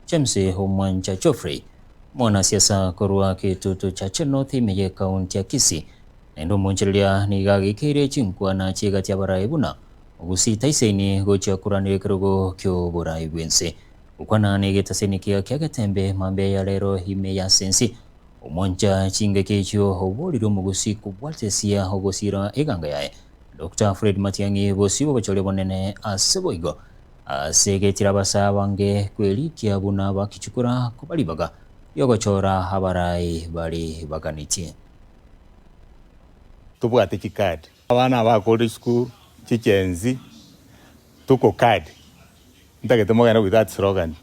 James Omwancha Geoffrey, omwanasiasa korwa Kitutu Chache North ime y'ekaunti ya Kisii, naende omonchereria nigo agekeire chinkwana chi'egati y'abarai buna ogusita isaini gochia koranera ekerogo ki'oborai bw'ense. Gokwana negete saini kega ki'agetembe mambia ya rero ime y'ase ense, omwancha chingaki echio oborire omogusi kobwate esia ogosira eganga yaye Doctor Fred Matiang'i bosio bw'obochori obonene ase boigo. Ase egechire abasae abange kwerikia buna bakichukora koba ribaga ri'ogochora abarai bare baganetie. Tobwate chicard. Abana abakore isiko chi'chenzi tuko card. Ntagete mogende with that slogan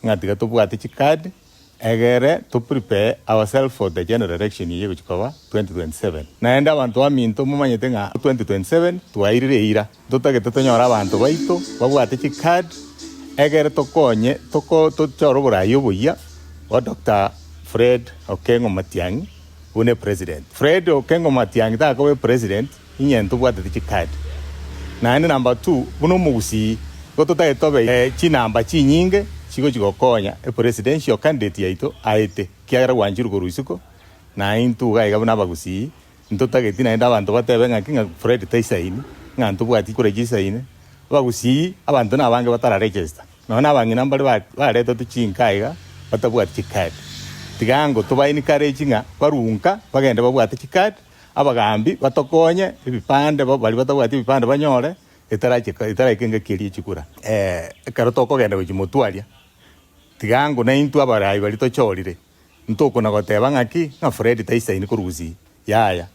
ng'a tiga tobwate chicard. Egere to prepare ourselves for the general election eye egochia koba 2027. Naende abanto baminto momanyete ng'a 2027 twairire eira, ntotagete tonyore abanto baito babwate chicard egere tokonye tochore oboraai oboyia bwa Doctor Fred Okengo Matiang'i buna epresident. Fred Okengo Matiang'i takoba epresident. Inye ntobwatete chikadi, naende number two buna omogusii, igo totagete tobe chinamba chinyinge chigochia gokonya epresidential candidate yaito aete, ekiagera gwanchirwe korwa isiko, na intwe iga iga buna abagusii ntotageti naende abanto batebe ng'aki ng'a Fred taisaini, ng'a ntobwati kura chisaine. Abagusii abanto nabange batara register, nonya na abang'ina mbare ba baretetwe chinka iga batabwati chikadi. Tiga ango toba encourage ng'a barwe nka bagende babwate chikadi. Abagaambi batokonye ebipande, abwo baria batabwati ebipande banyore etarachika, etaraika engaki eria echikura. Ee, ekero tokogenda gochimotwaria, tiga ang'u naintwe abarai baria tochorire, ntokona goteba ng'aki ng'a Fred taisaini korwa gusii. Yaya,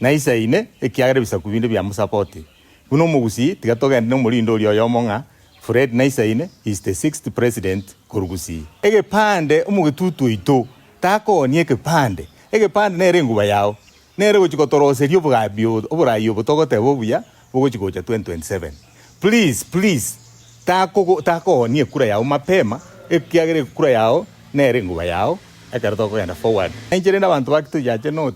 naisaine, ekiagera ebisaku binde bia mosapoti. Buna omogusii, tiga togende nomorindi oria oyomo ng'a Fred Naisain is the sixth president korwa Gusii. Egepande omogetutu oito takooni ekepande. Egepande nere enguba yao. Nere ogochi kotoroseria obogabi oborai obo togoteba obuya bogochi gocha 2027. Please please takogo takooni ekura yao mapema ekiagera ekura yao nere enguba yao ekero tokogenda forward. Nainche rende abanto bake toyache not.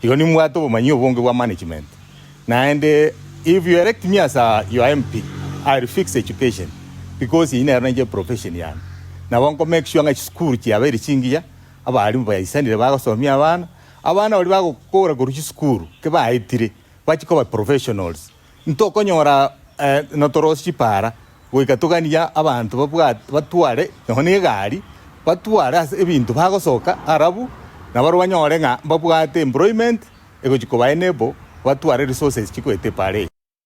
Igo nimbwate obomanyi obonge bwa management, naende if you elect me as your MP, I will fix education because eyio nero nainche profession yane. Nabo nko make sure ng'a chisukuru chiabeire chingiya, abalimu baisanire bagosomia abana, abana baria bagokora korwa chisukuru ki baetire bachia koba professionals. Ntokonyora notorosi chipaara goika toganie abanto babwate batware nonya negari, batware ase ebinto bagosoka arabu nabaria banyore ng'a mbabwate employment egochia koba enable batware resources chigoeta epaara eye.